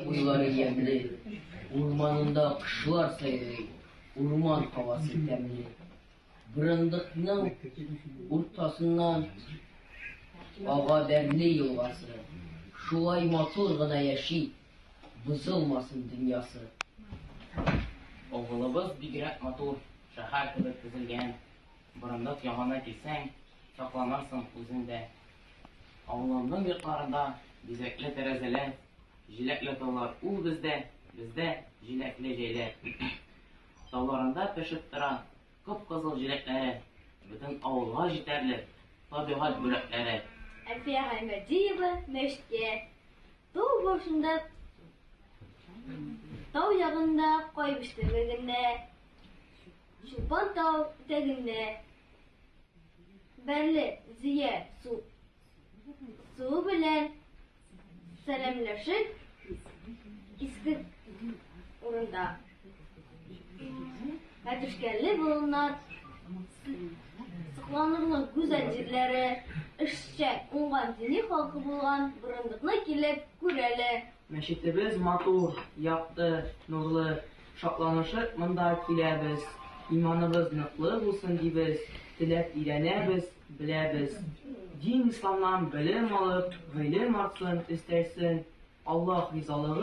Уйлары ямьле, урманында кошлар сайрый, урман һавасы тәмле. Бырындыкның уртасыннан ага Бәрли елгасы. Шулай матур гына яши, бозылмасын дөньясы. Авылыбыз бигрәк матур, шәһәр кебек төзелгән. Борындык ягына килсәң, шатланырсың үзең дә. Авылымның йортларында бизәкле тәрәзәләр, җиләкле таулар Ул бездә, бездә, җиләкле җәйләр. Тауларында пешеп тора Кып-кызыл җиләкләре, Бөтен авылга җитәрлек Табигать бүләкләре. Әлфия Гаймәдиева мәчеткә Тау башында, тау ягында Кай биштәлегенә Чулпан тау итәгендә Бәрле зөя су суы белән сәламләшеп иске урында Мәтүшкәле болыннар сокланырлык гүзәл җирләре эшчә уңган дини халкы булган борындыкны килеп күрәләр. Мәчетебез матур, якты, нурлы. Шатланышып монда киләбез, Иманыбыз ныклы булсын дибез, Теләп өйрәнәбез, беләбез. Дин-исламнан белем алып, Гыйлем артсын, өстәлсен, Аллаһ ризалыгы.